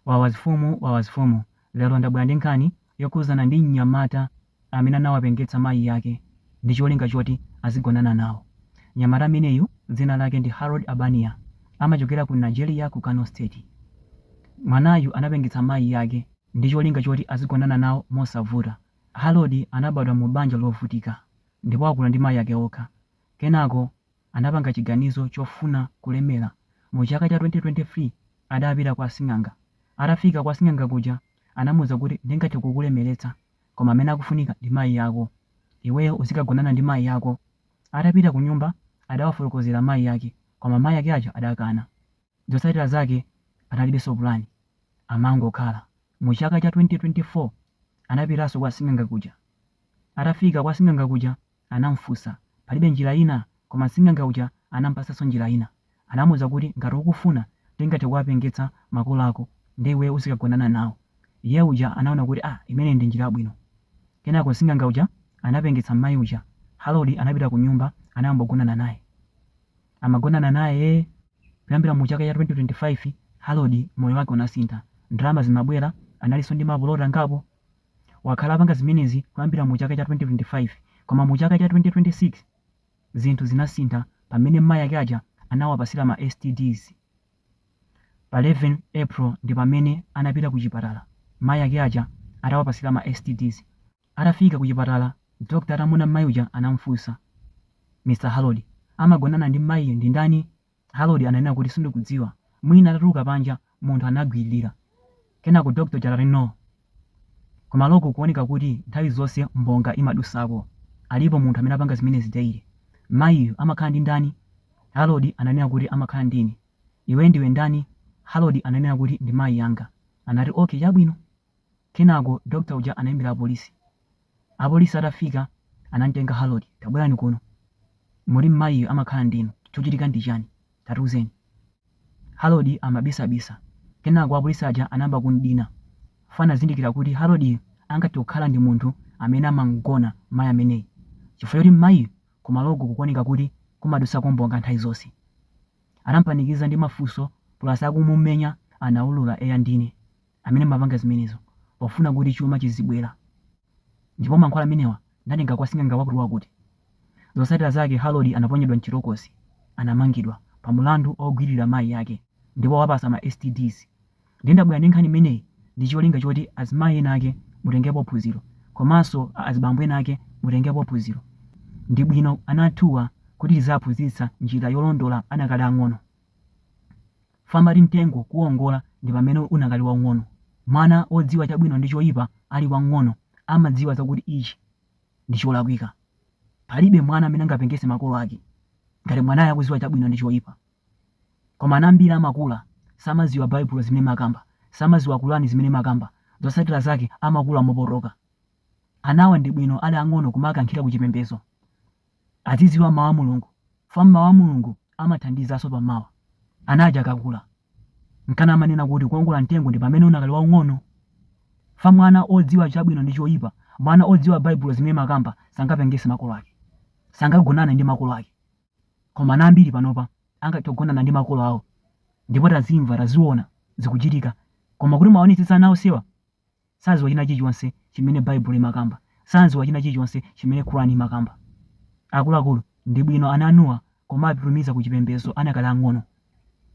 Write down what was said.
Wawazifumu Wawazifumu Lero ndabwera ndi nkhani yokhuzana ndi mnyamata amene anawapengetsa mayi ake ndi cholinga choti azigonana nawo. Mnyamata ameneyu dzina lake ndi Harold Abania amachokera ku Nigeria ku Kano State. Mwanayu anapengetsa mayi ake ndi cholinga choti azigonana nawo mosavuta. Harold anabadwa mu banja lovutika ndipo wakula ndi mayi ake okha. Kenako. anapanga chiganizo chofuna kulemela mu chaka cha 2023 adapita kwa sing'anga atafika kwa sing'anga kuja anamuuza kuti ndingathe kukulemeletsa koma amene akufunika ndi mayi ako iweyo uzikagonana ndi mayi ako atapita kunyumba adawafolokozela mayi ake koma mayi ake aja adakana zotsatila zake analibeso pulani amangokhala mu chaka cha 2024 anapitaso kwa sing'anga kuja atafika kwa sing'anga kuja Anamfunsa, Palibe njira ina? Koma sing'anga uja anampatsanso njira ina. Anamuuza kuti, Ngati ukufuna, tingathe kuwapengetsa makolo ako, ndiye iweyo uzikagonana nawo. Iye uja anaona kuti, Ah, imeneyi ndi njira yabwino. Kenako sing'anga uja anapengetsa m'mayi uja. Harold anapita kunyumba, anayamba kugonana naye. Amagonana naye ee! Kuyambira mu chaka cha 2025, Harold moyo wake unasintha. Ndalama zimabwera, analinso ndi mapuloti angapo. Wakhala apanga zimenezi kuyambira mu chaka cha 2025 koma mu chaka cha 2026 zinthu zinasintha pamene mai ake aja anawapasira ma STDs. Pa 11 April ndipamene anapita ku chipatala mai ake aja atawapasira ma STDs. Atafika ku chipatala doctor atamuona mai uja anamufunsa, Mr Harold, amagonana ndi maiyu ndi ndani? Harold ananena kuti, Sindikudziwa. Mwina atatuluka panja, munthu anagwiririra. Kenako doctor uja anati no. Kumaloko kukuoneka kuti nthawi zonse mbonga imadusako. Alipo munthu amene amapanga zimenezi daily. Mayiyu amakhala ndi ndani? Harold ananena kuti, Amakhala ndi ine. Iwe ndiwe ndani? Harold ananena kuti, Ndi mayi anga. Anati, Okay, chabwino. Kenako doctor uja anaimbira apolisi. Apolisi atafika anamtenga Harold, tabwerani kuno. Moti mmayiyu amakhala ndi inu? Chochitika ndi chani? Tatiuzeni. Harold amabisabisa. Kenako apolisi aja anayamba kumdina. Fo anazindikira kuti Haroldyu angathe kukhala ndi munthu amene amamgona mayi ameneyi chifukwa choti mmayiyu kumaloku kukuoneka kuti kumadutsako mbonga nthawi zonse. Anampanikiza ndi mafunso plus akumumenya anaulura, eya ndine. amene ndimapanga zimenezo pofuna kuti chuma chizibwera, ndipo mankhwala amenewa ndatenga kwa sing'anga wakutiwakuti. Zotsatira zake Harold anaponyedwa m'chitokosi, anamangidwa pa mlandu ogwililira mayi ake ndi kuwapatsa ma STDs. Ndiye ndabwera ndi nkhani imeneyi ndi cholinga choti azimayi ena ake mutengepo phunziro komanso a azibambo ena ake mutengepo phunziro. Ndi bwino ana athuwa kuti tiziwaphunzitsa njira yolondola adakali ang'ono. Fa amati mtengo kuwongola ndi pamene unakali waung'ono. Mwana wodziwa chabwino ndi choipa ali wamng'ono amadziwa zakuti ichi ndi cholakwika. Palibe mwana amene angapengetse makolo ake ngati mwanayo akudziwa chabwino ndi choipa. Koma ana ambiri amakula samadziwa Baibulo zimene imakamba, samadziwa Qur'an zimene imakamba, zotsatira zake amakula mopotoka. Anawa ndi bwino ali ang'ono kumawakankhira ku chipembezo. Azidziwa Mawu a Mulungu, chifukwa Mawu a Mulungu amathandizanso pa mawa. Ana aja akakula, nkana amanena kuti kuwongola mtengo ndi pamene unakali waung'ono. Chifukwa mwana odziwa chabwino ndi choipa, mwana odziwa Baibulo zimene imakamba sangapengetse makolo ake. Sangagonane ndi makolo ake. Koma ana ambiri panopa angathe kugonana ndi makolo awo. Ndipo tazimva, taziona zikuchitika. Koma kuti muwaonetsetse ana onsewa. Sadziwa china chilichonse chimene baibulo imakamba. Sadziwa china chilichonse chimene Quran imakamba. Akuluakulu ndi bwino ana anuwa kumawapititsa ku chipembezo anakali ang'ono.